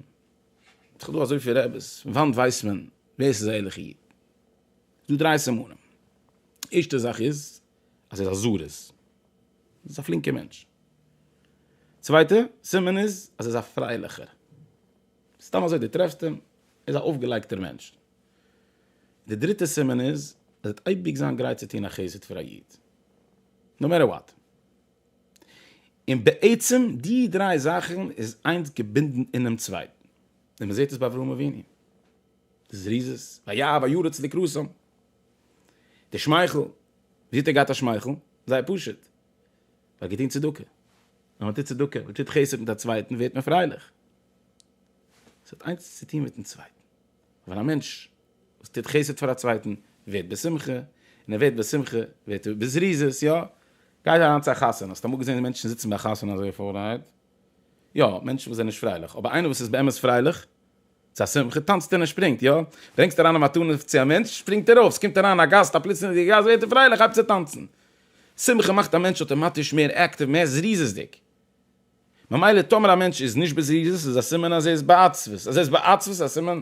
האט דאך דא אזויפיל רעבעס, פון וואנט ווייסט מען ווער ס'איז א ערליכע איד? ס'איז דא דריי סימנים, ערשטע זאך איז אז ער איז א זרז, ער איז א פלינקער מענטש, צווייטע סימן איז אז ער איז א פרייליכער, סתם אזוי דו טרעפסט אים, ער איז א אויפגעלייגטער מענטש, די דריטע סימן איז ער וועט אייביג זיין גרייט צו טון א חסד פאר א איד, נאו מעטער וואט. און בעצם די דריי זאכן איז איינס געבינדן אינעם צווייטן, און מ'זעט עס ביי אברהם אבינו, די זריזות, וירא וירא צדיק רסום, די שמייכל, ווי אזוי האט ער געהאט א שמייכל? זייער פשוט, ער האט געטון צדקה, ווען מ'טוט צדקה, מ'טוט חסד מיט א צווייטן ווערט מען פרייליך, ס'האט איינס צו טון מיט'ן צווייטן. ווייל א מענטש וואס טוט חסד פאר א צווייטן ווערט בשמחה, און ער ווערט בשמחה ווערט ער בזריזות, יא? גייט אריין צו א חתונה, האסט אמאל געזען מענטשן זיצן ביי א חתונה אזוי פארהייבט? יא, מענטשן וואס זענען נישט פרייליך, אבער איינער וואס איז באמת פרייליך, צו א שמחה, טאנצט ער און שפרינגט, יא? ברענגסט אריין א מתנה צו א מענטש, שפרינגט ער אויף, ס'קומט אריין א גאסט, א פלוצלינגער גאסט, ווערט ער פרייליך, הייבט צו טאנצן. שמחה מאכט א מענטש אויטאמאטיש מער אקטיוו, מער זריזות'דיג. ממילא טאמער א מענטש איז נישט בזריזות איז א סימן אז ער איז בעצבות, אז ער איז בעצבות איז א סימן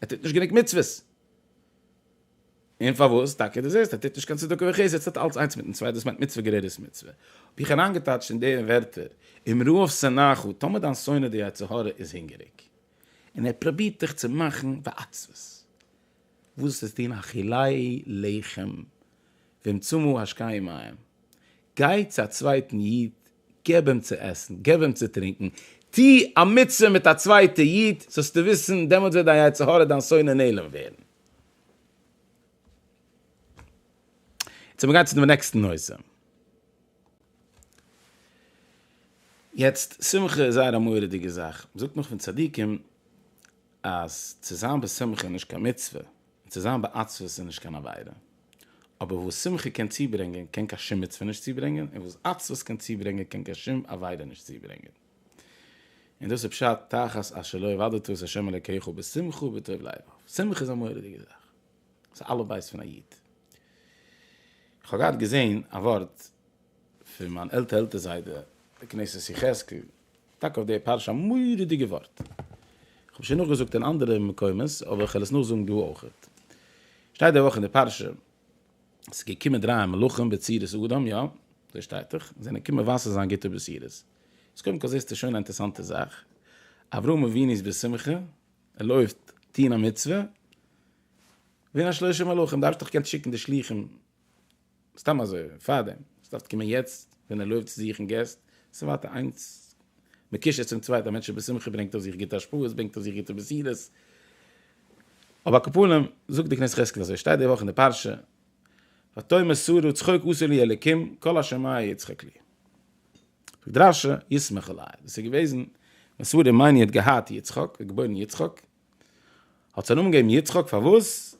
ער טוט נישט גענוג מצוות. און פארוואס טאקע דו זעסט ער טוט נישט קיין צדקה וחסד עס האט אלץ איינס מיטן צווייטן דאס מיינט מצוה גערעדעס מצוה האב איך אריינגעטייטשט אין די ווערטער אם רעב שנאך טאמער דיין שונא די יצר הרע איז הונגעריג און ער פרובירט דיך צו מאכן בעצבות וואס איז דין אכילי לחם ומצומו השקי מים גיי צו א צווייטן איד געב אים צו עסן, געב אים צו טרינקן, טו א מצוה מיט א צווייטע איד, זאלסטו וויסן, דעמאלט וועט דיין יצר הרע, דיין שונא נעלם ווערן. יעצט מיר גיין צו דעם נעקסטן נושא. יעצט, שמחה איז זייער א מורא'דיגע זאך. מען זאגט נאך פון צדיקים אז צו זיין בשמחה איז נישט קיין מצוה, און צו זיין בעצבות איז נישט קיין עבירה. אבער וואס שמחה קען צוברענגען קען קיין שום מצוה נישט צוברענגען, און וואס עצבות קען צוברענגען קען קיין שום עבירה נישט צוברענגען. און דאס איז פשט תחת אשר לא עבדת את ה' אלוקיך בשמחה ובטוב לבב. שמחה איז א מורא'דיגע זאך. ס'איז אלף בית פון א איד. כ'האב געהאט געזען א ווארט פון מיין עלטער עלטער זיידע, די כנסת יחזקאל, טאקע אויף די פרשה א מורא'דיגע ווארט. כ'האב עס שוין נאכגעזאגט אין אנדערע מקומות אבער כ'וועל עס נאכזאגן דא אויכעט. שטייט די וואך אין די פרשה, ס'איז געקומען דרײַ מלאכים בצורת אדם, יא, אזוי שטייט דאך, זיי זענען געקומען מבשר זיין גוטע בשורות. איז קודם כל זעסטו שוין א אינטערעסאנטע זאך, אברהם אבינו איז בשמחה, ער לויפט טון א מצוה, ווערן א שלושה מלאכים, דארפסט דאך געקענט שיקן די שלוחים סתם אזוי פארדעם סדארף קומען יעצט ווען ער לויפט צו זוכן געסט סאיז ווייטער איינס מקושר צום צווייטען א מענטש איז בשמחה ברענגט אויף זיך גוטע השפעות ברענגט אויף זיך גוטע בשורות אויב א קאפאלעם זאגט די קנית חזקל אזוי שטייט די וואך אין די פרשה ותאמר שרה צחוק עשה לי אלקים כל אשר מאי יצחק לי זאגט רשי ישמח עלי דאס איז געוועזן ווען שרה מיין יט געהאט יצחק געבוירן יצחק האט זיי נאמען געגעבן יצחק פארוואס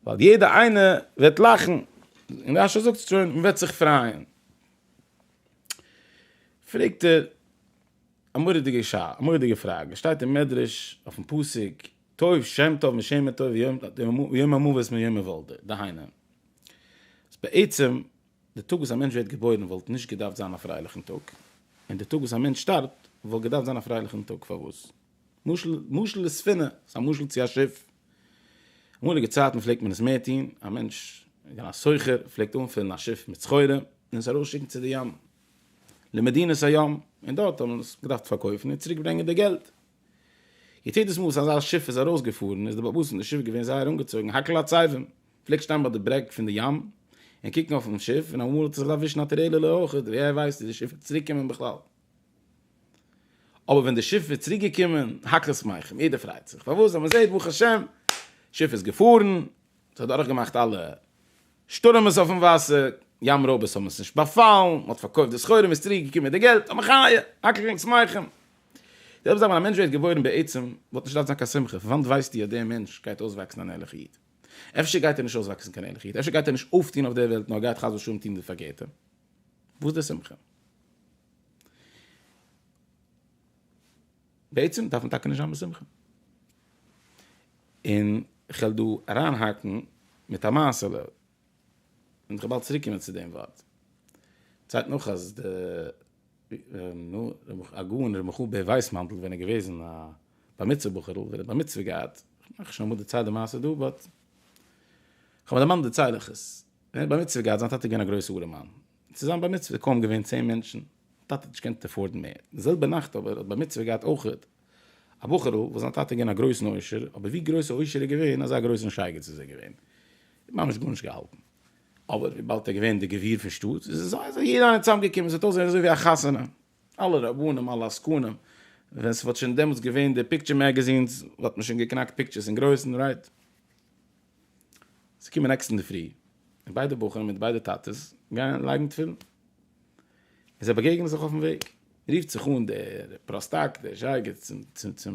ווייל יעדע איינע וועט לאכן און רשי זאגט שוין מען וועט זיך פרייען פרעגט ער א מורא'דיגע שאלה א מורא'דיגע פראגע שטייט אין מדרש אויפן פסוק טוב שם טוב משמר טוב יום המוות מיום היוולדו דהיינו אז בעצם די טאג וואס א מענטש ווערט געבוירן וואלט נישט געדארפט זיין א פרייליכן טאג און די טאג וואס א מענטש שטארבט וואלט געדארפט זיין א פרייליכן טאג פארוואס משל, משל לספינה, ס'איז א משל צו א שיף. אמאליגע צייטן פלעגט מען עס מער טון, א מענטש, ווי א סוחר, פלעגט אנפילן א שיף מיט סחורה און עס ארויסשיקן צו די ים, למדינות הים, און דארט האט מען עס געדארפט פארקויפן און צוריק ברענגען די געלט. יעדעס מאל וואס אזא שיף איז ארויסגעפארן איז די באבוס פון די שיף געווען זייער אנגעצויגן, האקל הצייבים פלעגט שטיין ביי די ברעג פון די ים און קוקן אויפן שיף און אמאל האט ער זיך געדארפט ווישן א טרערעלע אויך, ווער ווייסט צו די שיף וועט צוריקקומען בכלל. אבער ווען די שיף איז צוריק געקומען, האקט עס מייכן, יעדער פרייט זיך, פארוואס? ווייל מען זעט ברוך השם, שיף איז געפארן, ס'האט דורך געמאכט אלע שטורעמעס אויפן וואסער, ים רויבערס האבן עס נישט באפאלן, מען האט פארקויפט די סחורה, מען איז צוריק געקומען מיט די געלט, אמן חיה, האקט ענק שמייכן. די זעלבע זאך ווען א מענטש ווערט געבוירן בעצם, וואלט נישט געדארפט זיין קיין שמחה, פון וואנט ווייסטו אז דער מענטש גייט אויסוואקסן אן ערליכע איד? אפשר גייט ער נישט אויסוואקסן קיין ערליכע איד, אפשר גייט ער נישט אויפטון אויף דער וועלט נאר גייט חס ושלום טון די פארקערטע, וואס די שמחה? בעצם דארף מען טאקע נישט זיין בשמחה. און כ'וועל דא אריינהאקן מיט א מעשה'לע, און כ'וועל באלד צוריק קומען צו דעם ווארט. צייט נאך אז די נו, הגאון ר' מיכל בער ווייסמאנטל ווען ער איז געוועזן א בר מצוה בחור'ל, ווען ער האט בר מצוה געהאט, כ'מיין כ'האב שוין אמאל דערציילט די מעשה דא, באט כ'האב מיר דערמאנט דערצייל איך עס, ווען ער האט בר מצוה געהאט, זיין טאטע איז געווען א גרויסע ארעמאן, צו זיין בר מצוה איז קוים געווען צען מענטשן, טאטע האט נישט געקענט עפארדן מער, די זעלבע נאכט אבער האט בר מצוה געהאט אויכעט א בחור'ל וואס זיין טאטע איז געווען א גרויסן עושר, אבער ווי גרויס א עושר איז געווען אזא גרויסן שייגעץ איז ער געווען, ער האט ממש גארנישט געהאלטן, אבער וויבאלד ער איז געווען דער גביר פון שטאט, איז אזוי אזוי יעדער איינער צוזאם געקומען, ס'האט אויסגעזען אזוי ווי א חתונה, אלע רבנים, אלע עסקנים, ווען ס'וואלט שוין דעמאלטס געווען די פיקטשער מעגעזינס, וואלט מען שוין געקנאקט פיקטשערס אין גרויסן, רייט? זיי קומען נעקסטן אינדערפרי, און ביידע בחורים מיט ביידע טאטעס גייען לייגן תפילין. און זיי באגעגענען זיך אויפן וועג. רופט זיך אן דער פראסטאק, דער זשייגער,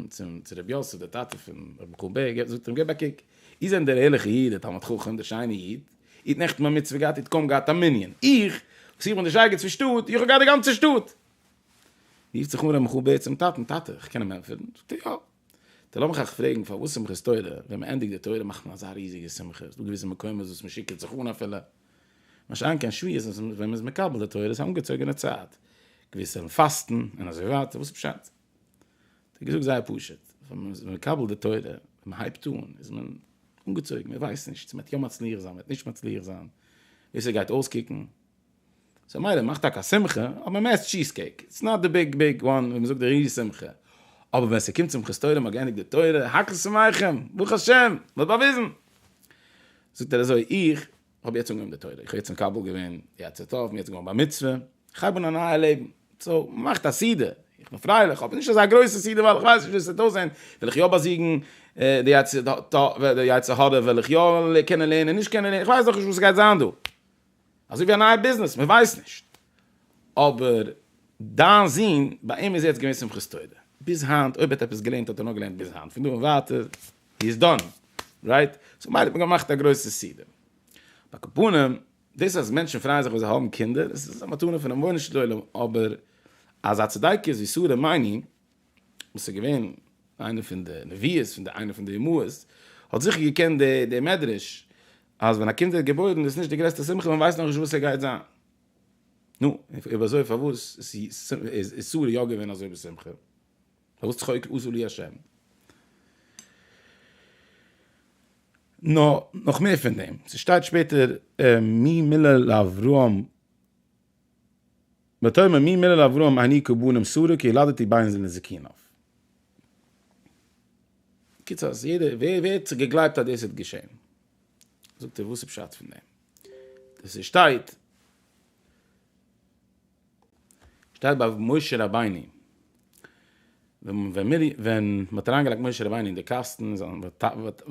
צום רבי יוסף, דער טאטע פון רבי חו ב, זאגט אים, גיב א קוק, איר זענט דער ערליכער איד, דער תלמיד חכם, דער שיינער איד. איר האט נעכטן א מצוה געהאט, איר האט קוים געהאט א מנין. איך, וואס איך בין דער זשייגער צו שטאט, איך האב געהאט די גאנצע שטאט. רופט זיך אן רבי חו ב צום טאטן, טאטע, איך קען אים ענטפערן? זאגט ער, יא. די לאמיך אייך פרעגן פארוואס שמחת תורה ווען מען ענדיגט די תורה מאכט מען אזא ריזיגע שמחה איז דא געוויסע מקומות וואס מען שיקערט זיך אן אפילו משא כ אין שביעית וואס ווען מען איז מקבל די תורה איז א אנגעצויגענע צייט געוויסע וועלן פאסטן און אזוי ווייטער וואס איז פשט האט ער געזאגט זייער פשוט ווען מען איז מקבל די תורה ווען מען הייבט אן איז מען אנגעצויגן מען ווייסט נישט צו מען וועט יא מצליח זיין מען וועט נישט מצליח זיין ווי עס גייט אויסקוקן. סאו מילא מאך טאקע א שמחה, אבער מען עסט טשיז קעיק, איטס נאט די ביג ביג וואן ווי מען זאגט די ריז שמחה, אבער ווען ס'קומט שמחת תורה מ'האט געענדיגט די תורה, הכל שמחים, ברוך השם, מ'האט באוויזן. זאגט ער אזוי, איך האב יעצט אנגעהויבן די תורה, איך האב יעצט מקבל געווען יצר טוב, מיר האט זיך געווארן בר מצוה, איך הייב אן א נייע לעבן, סאו מאכט א סעודה, איך בין פרייליך, אבער נישט אזא גרויסע סעודה ווייל איך ווייס נישט ווי עס וועט אויסזען, וועל איך יא באזיגן די יצר הרע, וועל איך יא קענען לערנען, נישט קענען לערנען, איך ווייס נאכנישט וואס ס'גייט זיין דא. אזוי ווי א נייע ביזנעס, מען ווייסט נישט. אבער דיין זון, ביי אים איז יעצט געווען שמחת תורה. ביז היינט, אויב ער האט עפעס געלערנט האט ער נאר געלערנט ביז היינט, פון דא און ווייטער, הי איז דאן. רייט? סאו מילא האט מען געמאכט א גרויסע סידור. על כל פנים, דאס אז מענטשן פרייען זיך ווען זיי האבן קינדער, עס איז א מתנה פונעם רבונו של עולם, אבער אזא צדקות ווי שרה מיין איך וואס איז געווען איינע פון די נביאות פון די איינע פון די אמהות, האט זיכער געקענט די די מדרש אז ווען א קינד ווערט געבוירן איז נישט די גרעסטע שמחה מען ווייסט נאכנישט וואס עס גייט זיין. נו, אויב אזוי פארוואס איז שרה יא געווען אזוי בשמחה? פארוואס צחוק עשו לי ה'? נאר נאך מער פון דעם, ס'שטייט שפעטער מי מילא לאברהם. ותאמר מי מלל אברהם אני כה בנים שרה כי ילדתי ביין זיי לזקינו'. קיצור אז יעדער ווער ווער האט געגלייבט אז דאס האט געשען זאגט ער וואס איז פשט פון דעם דאס איז שטייט שטייט ביי משה רבינו ווען מ'האט אריינגעלייגט משה רבינו אין די קאסטן,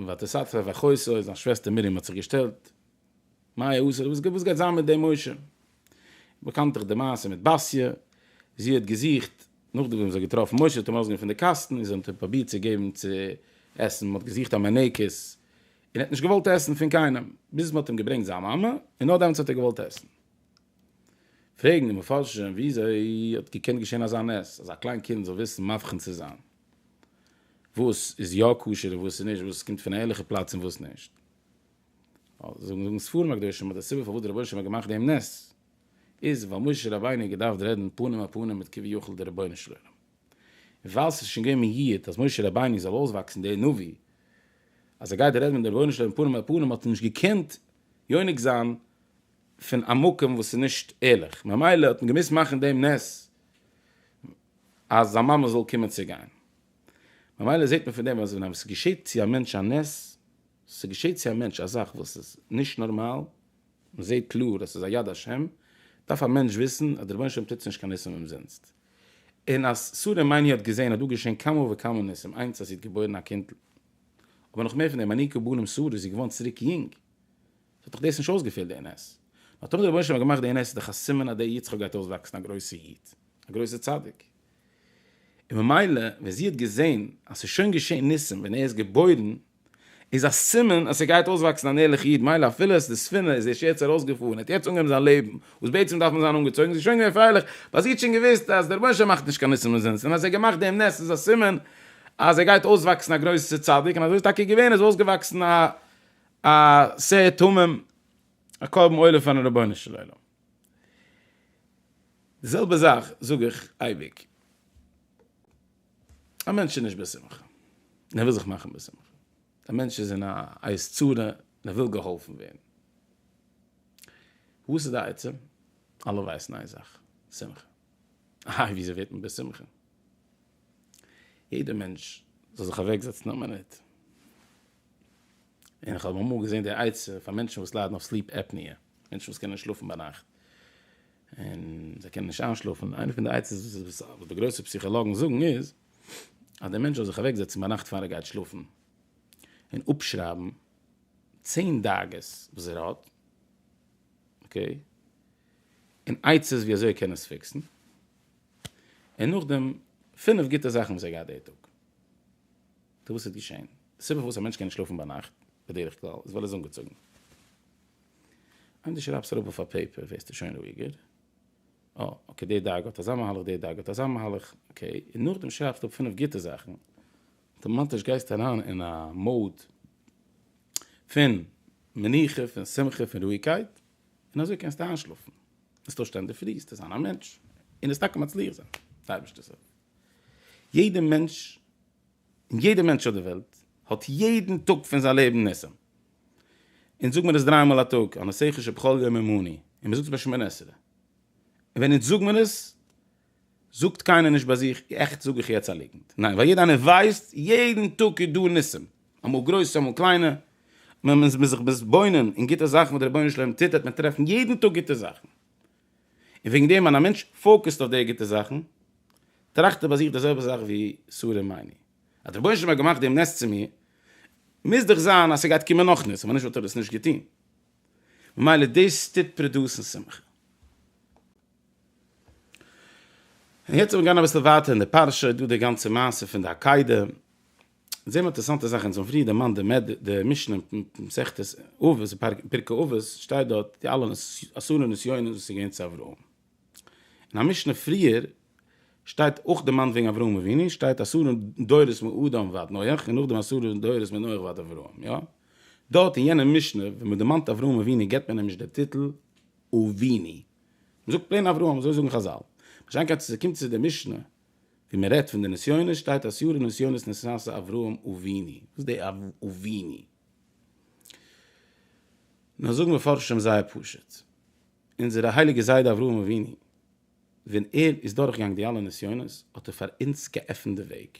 ותסתר וחוסר, זיין שוועסטער מרים האט זיך געשטעלט מאי עשה, וואס גייט זיין מיט דעם משה? באקאנט דאך די מעשה מיט באסיע, זי האט געזוכט, נאכדעם וואס זי האט געטראפן משה האט אים ארויסגענומען פון די קאסטן און זי האט אים פרובירט צו געבן צו עסן, מען האט געזוכט א מנקות און ער האט נישט געוואלט עסן פון קיינעם, ביז מען האט אים געברענגט זיין מאמע און נאר דעמאלטס האט ער געוואלט עסן. פרעגן די מפרשים וויאזוי האט געקענט געשען אזא נס אז א קליין קינד זאל וויסן מבחין צו זיין וואס איז יא כשר און וואס איז נישט, וואס קומט פון א ערליכע פלאץ און וואס נישט. זאגן ספרים הקדושים אז די סיבה פארוואס דער רבונו של עולם האט געמאכט דעם נס איז ווייל משה רבינו האט געדארפט רעדן פנים אל פנים מיט כביכול דער רבונו של עולם, און ווייל ס'איז שוין געווען מיעוט אז משה רבינו זאל אויסוואקסן דער נביא אז ער גייט רעדן מיט דעם רבונו של עולם פנים אל פנים האט ער נישט געקענט יונק זיין פון א מקום וואס איז נישט ערליך, ממילא האט מען געמוזט מאכן דעם נס אז זיין מאמע זאל קומען צו גיין, ממילא זעט מען פון דעם אז ווען עס געשעט צו א מענטש א נס ס'געשעט צו א מענטש א זאך וואס איז נישט נארמאל, מ'זעט קלאר אז ס'איז א יד השם, דארף א מענטש וויסן אז דער רבונו של עולם טוט נישט קיין ניסים אומזינסט. און אז שרה אמנו האט געזען אז דא געשען כמה וכמה ניסים, איינס אז זי האט געבוירן א קינד'ל, אבער נאך מער פון דעם, הניק הבנים שרה איז זי געווארן צוריק יונג, ס'האט דאך דאס נישט אויסגעפעלט די נס. נאר טאמער דער רבונו של עולם האט געמאכט די נס איז דאך א סימן אז דער יצחק גייט אויסוואקסן א גרויסע איד, א גרויסע צדיק. און ממילא ווען זי האט געזען אז ס'איז שוין געשען ניסים ווען ער איז געבוירן, איז א סימן אז ס'גייט אויסוואקסן אן ערליכע איד, מילא אפילו אז די ספינה איז ערשט יעצט ארויסגעפארן, האט יעצט אנגעהויבן זיין לעבן, וואס בעצם דארף מען זיין אנגעצויגן, זיי שוין געווען פרייליך, ווייל זי האט שוין געוואוסט אז דער רבונו של עולם מאכט נישט קיין ניסים אומזינסט, און אז ער האט געמאכט דעם נס איז א סימן אז ער גייט אויסוואקסן א גרויסע צדיק, און אזוי איז טאקע געווען, ער איז אויסגעוואקסן א א שער תמים, א קרבן עולה פארן רבונו של עולם. די זעלבע זאך זאג איך אייביג. א מענטש איז נישט בשמחה, און ער וויל זיך מאכן בשמחה. א מענטש איז אין א עת צרה, און ער וויל געהאלפן ווערן. וואס איז די עצה? אלע ווייסן איין זאך, שמחה. איי, וויאזוי ווערט מען בשמחה? יעדער מענטש זאל זיך אוועקזעצן א מינוט. און איך האב אמאל געזען די עצה פאר מענטשן וואס ליידן אויף סליפ עפניע, מענטשן וואס קענען נישט שלאפן ביינאכט. און זיי קענען נישט איינשלאפן, איינע פון די עצות וואס די גרויסע פסיכאלאגן זאגן איז, אז דער מענטש זאל זיך אוועקזעצן ביינאכט פאר ער גייט שלאפן, און אפשרייבן צען דאגות וואס ער האט, אקעי, און עצות ווי אזוי ער קען עס פיקסן, און נאכדעם פינף גוטע זאכן וואס ער געהאט די טאג. טא וואס איז געשען? די סיבה פארוואס א מענטש קען נישט שלאפן ביינאכט, בדרך כלל, איז ווייל ער איז אנגעצויגן. אויב דו שרייבסט אראפ אויף א פעיפער ווערסטו שוין רואיגער, אה אקעי די דאגה האט אזא מהלך די דאגה האט אזא מהלך, אקעי, און נאכדעם שרייבסטו אפ פינף גוטע זאכן, אטאמאטיש גייסטו אריין אין א מוד פון מנוחה, פון שמחה, פון רואיגקייט, און אזוי קענסטו איינשלאפן, עס טוישט אן די פריסטע זיין א מענטש, און עס טאקע מצליח זיין, די אייבערשטער זאגט יעדע מענטש און יעדער מענטש אויף דער וועלט האט יעדן טאג פון זיין לעבן ניסים, אונז זאג מיר עס דריי מאל א טאג, הנסיך אשר בכל יום עמני, און מען זאגט עס ביי שמונה עשרה, און ווען אונז זאג מיר עס, זאגט קיינער נישט ביי זיך, עכט זאג איך יעצט א ליגנט, ניין, ווייל יעדער איינער ווייסט, יעדן טאג איז דא ניסים, אמאל גרויסע אמאל קליינע, און ווען מען איז זיך מתבונן אין גוטע זאכן וואס דער רבונו של עולם טוט, וועט מען טרעפן יעדן טאג גוטע זאכן. און וועגן דעם ווען א מענטש פאוקעסט אויף די גוטע זאכן, טראכט ער ביי זיך די זעלבע זאך ווי סארא מיינער, אז דער רבונו של עולם האט געמאכט דעם נס צו מיר, מוז דאך זיין אז ס'גייט קומען נאך ניסים, אויב נישט וואלט ער דאס נישט געטון. ממילא דאס טוט פראדוסן שמחה. און יעצט וועל איך גיין אביסל ווייטער אין די פרשה, איז דא די גאנצע מעשה פון די עקידה, זעמער אינטערעסאנטע זאך, אונז האבן פריער דערמאנט די מד י, די משנה אין מסכת אבות, פרקי אבות, שטייט דארט די אלע אסון'ע נסיונות וואס איז געווען צו אברהם. אין א משנה פריער שטייט אויך דערמאנט וועגן אברהם אבינו, שטייט אסון'ע דורות מאדם ועד נח, און נאכדעם אסון'ע דורות מנח ועד אברהם, יא? דארט אין יענע משנה ווען מען דערמאנט אברהם אבינו גיבט מען אים נישט די טיטל אבינו, מען זאגט פלעין אברהם, אזוי זאגן חזל. מה שאין כן צו ס'קומט צו די משנה. ווי מען רעדט פון די נסיונות שטייט אז יארע נסיונות נשאת אברהם אבינו, וואס די אבינו? נאר זאגן מפרשים זייער פשוט, אונזערע הייליגע זיידע אברהם אבינו ווען ער איז דורכגעגאנגען די אלע נסיונות האט ער פאר אונז געעפנט די וועג.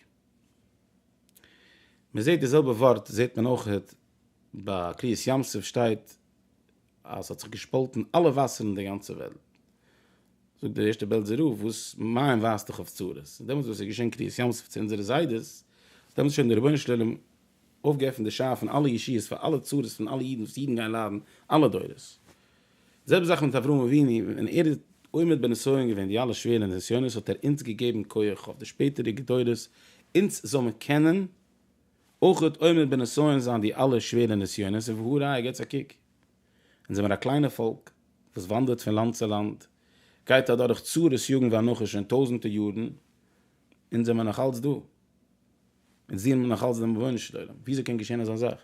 מען זעט די זעלבע ווארט זעט מען אויכעט ביי קריעת ים סוף שטייט אז ס'האט זיך געשפאלטן אלע וואסערן אין די גאנצע וועלט. זאגט דער ערשטער בעלזער רב, וואס מים ווייזט דאך אויף צרות, דעמאלטס וואס איז געשען קריעת ים סוף צו אונזערע זיידעס, דעמאלטס שוין דער רבונו של עולם אויפגעעפנט די שער פון אלע ישועות פאר אלע צרות פון אלע אידן וואס אידן גייען ליידן אלע דורות. די זעלבע זאך מיט אברהם אבינו, ווען ער איז עומד בנסיון געווען די אלע שווערע נסיונות האט ער אונז געגעבן כח אויף די שפעטערדיגע דורות אונז זאל מען קענען אויך אויב מען בנסיון זיין די אלע שווערע נסיונות און והא ראיה געטס א קוק אונז זעמער א קליינע פאלק וואס וואנדערט פון לאנד צו לאנד גייט אדורך צרות יגון ואנחה שוין טויזענטע יארן אונז זעמער נאך אלץ דא אונז דינען נאך אלץ דעם רבונו של עולם וויאזוי קען געשען אזא זאך?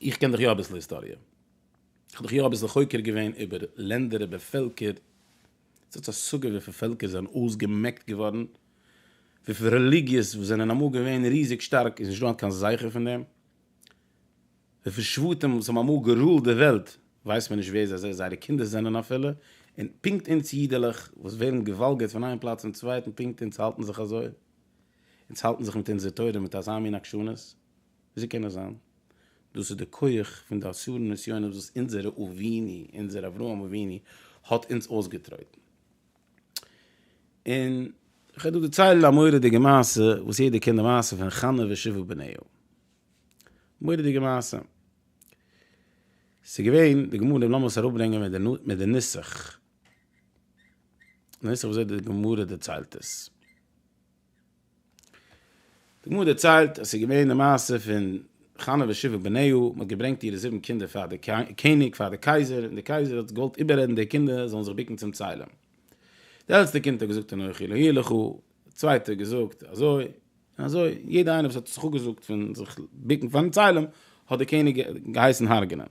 איך קען דאך יא אביסל היסטאריע איך האב דאך יא אביסל חוקר געווען איבער לענדער איבער פעלקער. ס'האט השגה וויפיל פעלקער זענען אויסגעמעקט געווארן, וויפיל רעליגיעס וואס זענען אמאל געווען ריזיג שטארק איז נישטא היינט קיין זכר פון דעם, וויפיל שבטים וואס האבן אמאל גערולט די וועלט ווייסט מען נישט ווער זיי זייערע קינדער זענען אפילו, און פונקט אונז אידעלעך וואס ווערן געוואלגערט פון איין פלאץ צום צווייטן פונקט אונז האלטן זיך אזוי, אונז האלטן זיך מיט אונזער תורה מיט אזא מין עקשנות. וויאזוי קען עס זיין? דאס איז די כח פון די עשרה נסיונות וואס אונזערע אביני, אונזער אברהם אבינו, האט אונז אויסגעטרויטן. און כ'וועל דא דערציילן א מורא'דיגע מעשה, וואס יעדער קען די מעשה פון חנה ושבעה בניה. מורא'דיגע מעשה. ס'איז געווען, די גמרא, לאמיר עס אראפברענגען מיט די מיט די נוסח, די נוסח ווי אזוי די גמרא דערציילט עס. די גמרא דערציילט אז ס'איז געווען די מעשה פון חנה ושבעה בניהו, מען האט געברענגט אירע זיבן קינדער פאר די קעניג, פאר די קייזער, און די קייזער האט געוואלט איבעררעדן די קינדער זאלן זיך בוקן צום צלם. די עלטסטע קינד האט געזאגט אנכי לא יהיה לך, די צווייטע האט געזאגט אזוי און אזוי, יעדער איינער וואס האט זיך אפגעזאגט פון זיך בוקן פארן צלם האט די קעניג געהייסן הרג'נען.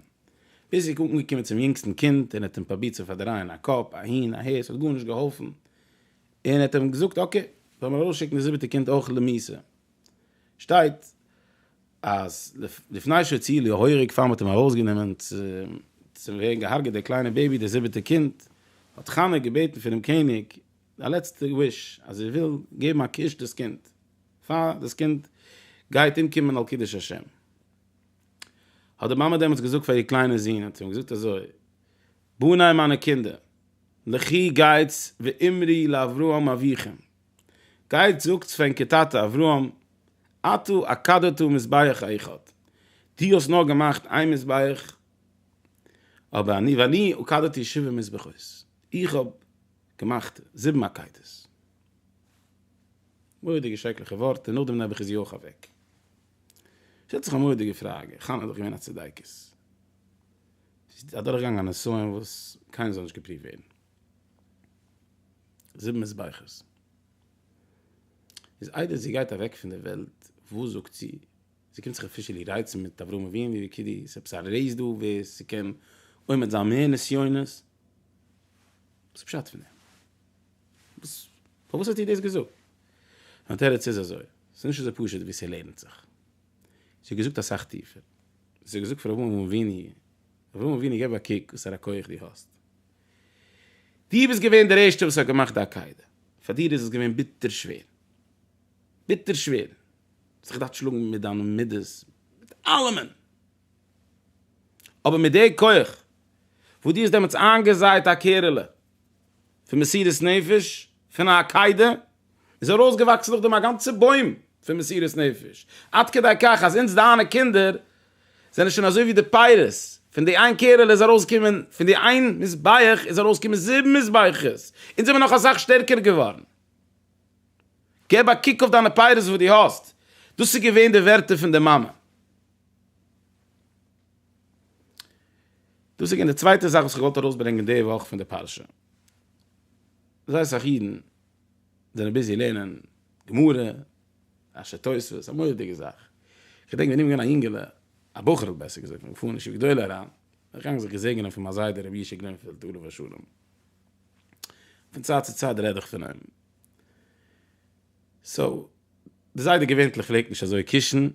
ביז ס'איז אנגעקומען צום יונגסטן קינד און האט אים פרובירט צו פארדרייען א קאפ אהין אהער, ס'האט גארנישט געהאלפן, און ער האט אים געזאגט אקעי וועל מיר ארויס שיקן די זיבעטע קינד אויך למעשה שטייט אז לפני שהציל יהורג פאר מען האט אים ארויס גענומען צו ווערן געהארגעט דער קליינער בעיבי דער זיבעטע קינד האט חנה געבעטן פונעם קעניג א לעצטע וויש אז זי וויל געבן א קוש דאס קינד פאר דאס קינד גייט אומקומען על קידוש השם האט די מאמע דעמאלטס געזאגט פאר איר קליינער זון האט זי אים געזאגט אזוי בניי מיינע קינדער, לכי גייטס ואמרי לאברהם אביכם, גייטס זאגטס פארן כטאטע אברהם, אתה עקדתא מזבח אחד, דו האסט נאר געמאכט איין מזבח, אבער אני ואני עקדתי שבע מזבחות, איך האב געמאכט זיבן עקידות. מורא'דיגע שרעקליכע ווארט, און נאכדעם נעבעך איז יואך אוועק. שטעלט זיך א מורא'דיגע פראגע, חנה איז דאך געווען א צדיקת. זי איז אדורכגעגאנגען א נסיון וואס קיינער זאל נישט געפריווט ווערן. זיבן מזבחות. איז איידער זי גייט אוועק פון דער וועלט, וואס זאגט זי? זי קומט זיך אפישעלי רייצן מיט אברהם אבינו ווי כדי ס'איז עפעס א רעיס דא ווער ס'קען עומד זיין מער נסיונות. וואס איז פשט פון דעם? וואס, פארוואס האט איר דאס געזאגט? מיין תירוץ איז אזוי, ס'איז נישט אזוי פשוט ווי ס'לערנט זיך. זי האט געזאגט אסאך טיפער, זי האט געזאגט פאר אברהם אבינו, אברהם אבינו געב א קוק וואסארא כח דו האסט, דו ביסט געווען דער ערשטער וואס האט געמאכט די עקידה, פאר דיר איז עס געווען ביטער שווער, ביטער שווער, דו האסט זיך געדארפט שלאגן מיט דיינע מידות, מיט אלעמען, אבער מיט די כח וואס דו האסט דעמאלטס איינגעזייט א קערעלע, פון מסירות נפש פון א עקידה, איז ארויסגעוואקסן נאכדעם א גאנצע בוים פון מסירות נפש, עד כדי כך אז אונז דיינע קינדער זענען שוין אזוי ווי די פירות, פון די איין קערעלע איז ארויסגעקומען, פון די איין מזבח איז ארויסגעקומען זיבן מזבחות, אונז זעמיר נאך אסאך שטערקער געווארן. געב א קוק אויף דיינע פירות וואס דו האסט, דאס איז געווען די ווערטער פון די מאמע. דאס איז געווען די צווייטע זאך וואס איך וואלט ארויסברענגען די וואך פון די פרשה. זייער אסאך אידן זענען ביזי לערנען גמרא, אנשי תוספות, א מורא'דיגע זאך. כ'געדענק ווען איך בין געווען א יונגעלע, א בחור'ל בעסער געזאגט, כ'בין געפארן אין ישיבה גדולה אריין, אריינגעגאנגען זיך געזעגענען פון מיין זיידע רבי ישעי' גרינפעלד עליו השלום. פון צייט צו צייט רעד איך פון אים. סאו, די זיידע געווענטליך פלעגט נישט אזוי קושן,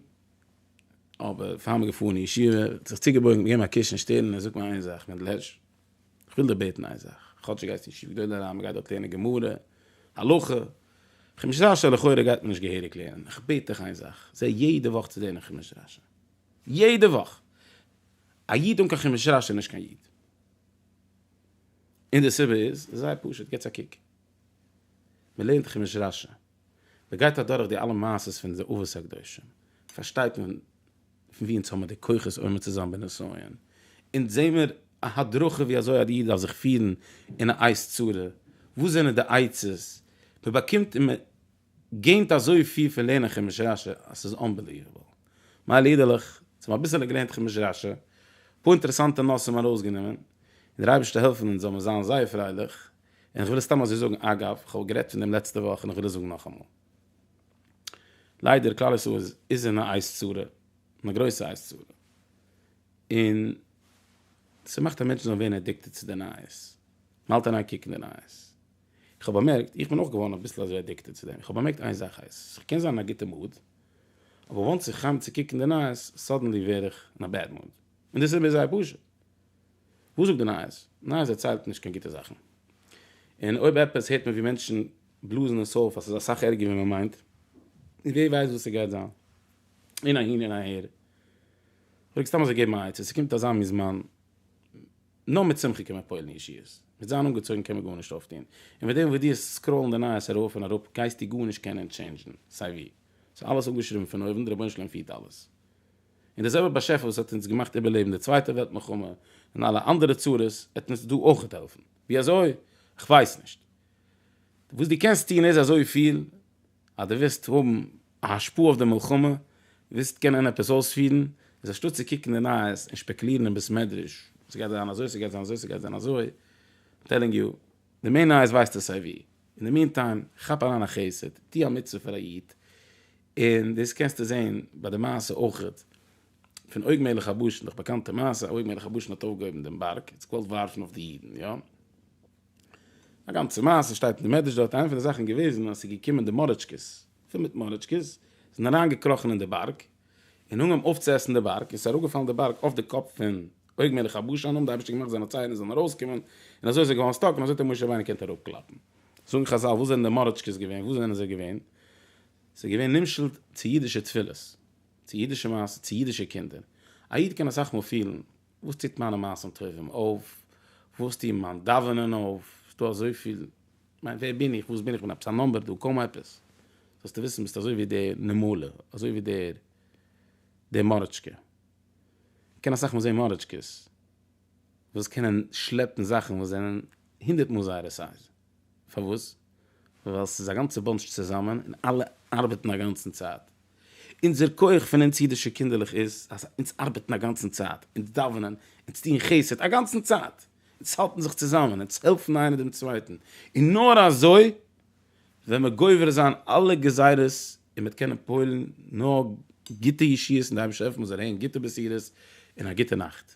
אבער פאר מען געפארן אין ישיבה האט ער זיך צוגעבויגן און געגעבן א קוש אין שטערן און געזאגט מיר איין זאך, מענדל הערש, איך וויל דיר בעטן איין זאך, כאטש דו גייסט אין ישיבה גדולה אריין, מען גייט דארט לערנען גמרא, הלכה, חומש רשי לכאורה גייט מען נישט געהעריג לערנען, איך בעט דיך איין זאך, זע יעדע וואך צו לערנען חומש רשי, יעדע וואך! א איד אן קיין חומש רשי איז נישט קיין איד. און די סיבה איז זייער פשוט, געטס א קוק, מען לערנט חומש רשי. מען גייט אדורך די אלע מעשות פון די אבות הקדושים, פארשטייט מען פון ווי אונז האבן מיר די כוחות עומד צו זיין בנסיון, אונז זעהן מיר א הדרכה ווי אזוי א איד דארף זיך פירן אין א עת צרה, וואס זענען די עצות, מען באקומט און מען געינט אזויפיל פון לערנען חומש רשי אז ס'איז אנבעליוועבל. מייל אידעלעך, אונז האבן אביסעלע געלערנט חומש רשי, אפאר אינטערעסאנטע נושאים ארויסגענומען, און דער אייבערשטער העלפן אונז זאל מען זיין זייער פרייליך, און איך וויל עס סתם אזוי זאגן אגב, איך האב גערעדט פון דעם לעצטע וואך און איך וויל עס זאגן נאכאמאל. ליידער כלל ישראל איז אין א אייז צרה, אין א גרויסע אייז צרה. און ס'מאכט אז מענטשן זאלן ווערן אדיקטעד צו די נייעס. מ'האלט אריין קוקן די נייעס. איך האב באמערקט, איך בין אויך געווארן אביסל אזוי אדיקטעד צו דעם. איך האב באמערקט איין זאך הייס, כ'קען זיין אין א גוטע מוד, אבער וואנס איך חם צו קוקן די נייעס, סאדענלי ווער איך אין א בעד מוד. און די סיבה איז זייער פשוט. וואס זאגט די נייעס? נייעס דערציילט נישט קיין גוטע זאכן. און אויב עפעס הערט מען ווי מענטשן בלאזן עס אויף אז ס'איז אסאך ערגער ווי מ'מיינט. און ווער ווייסט וואס ס'גייט זיין. און אהין און אהער. כ'פלעג סתם אזוי געבן א עצה, ס'קומט אזא מין זמן. נאר מיט שמחה קען מען פועל'ן ישועות. מיט זיין אנגעצויגן קען מען גארנישט אויפטון. און מיט דעם וואס דו האסט סקראולן די נייעס ארויף און אראפ גייסטו גארנישט קענען טשעינדזשן סיי ווי. ס'איז אלעס אפגעשריבן פון אויבן, די רבונו של עולם פירט אלעס. און דער זעלבער באשעפער וואס האט אונז געמאכט איבערלעבן די צווייטע וועלט מלחמה און אלע אנדערע צרות וועט אונז דא אויכעט העלפן. ווי אזוי? איך ווייס נישט. וואס דו קענסט טון איז אזויפיל, אז דו וועסט האבן א השפעה אויף די מלחמה, וועסט קענען עפעס אויספירן, איז אנשטאט צו קוקן די נייעס און שפעקולירן אין בית מדרש, ס'גייט זיין אזוי ס'גייט זיין אזוי ס'גייט זיין אזוי, איים טעלינג יו, די מער נייעס ווייסטו סייווי. אין די מיענטיים, כאפ אריין א חסד, טו א מצוה פאר א איד, און דאס קענסטו זעהן ביי די מעשה אויך פון אוג מלך הבשן, דאך באקאנטע מעשה, אוג מלך הבשן האט אויפגעהויבן דעם בארג, האט זיך געוואלט ווארפן אויף די אידן, יא? א גאנצע מעשה שטייט אין די מדרש דארט, איינע פון די זאכן איז געוועזן אז עס איז געקומען די מארעטשקעס, פיל מיט מארעטשקעס, זענען אריינגעקראכן אין די בארג, און אנגעהויבן אויפצועסן די בארג, און עס איז אראפגעפאלן די בארג אויף די קאפ פון אוג מלך הבשן, האבן די אייבישטער געמאכט זיינע ציין עס זאלן ארויסקומען, און אזוי איז ער געווארן סטאק, און אזוי האט אים משה רבינו געקענט אראפקלאפן. זאגן חזל, וואס זענען די מארעטשקעס געווען? וואו זענען זיי געווען? ס'איז געווען נמשל'ט צו אידישע תפילות, צו אידישע מעשים, צו אידישע קינדער. א איד קען אסאך מאל פילן, וואס טוט מיינע מעשים טובים אויף? וואס טוט מיין דאווענען אויף? ס'איז דא אזויפיל, כ'מיין ווער בין איך? וואס בין איך? כ'בין עפעס א נאמבער דא? קוים עפעס. זאלסטו וויסן ביסט אזוי ווי דער נמלה, אזוי ווי דער דער מארעטשקע. מ'קען אסאך מאל זען מארעטשקעס וואס קענען שלעפן זאכן וואס זענען הונדערט מאל זייערע סייז. פארוואס? ווייל ס'איז א גאנצע באנטש צוזאמען און אלע ארבעטן א גאנצן צייט. אונזער כח פון אונז אידישע קינדערלעך איז אז אונז ארבעטן א גאנצן צייט, אונז דאווענען, אונז טוען חסד א גאנצן צייט, אונז האלטן זיך צוזאמען, אונז העלפן איינער דעם צווייטן, און נאר אזוי וועט מען גובר זיין אלע גזירות און מ'וועט קענען פועל'ן נאר גוטע ישועות און די אייבערשטער העלפן אונז זאל הערן גוטע בשורות און א גוטע נאכט.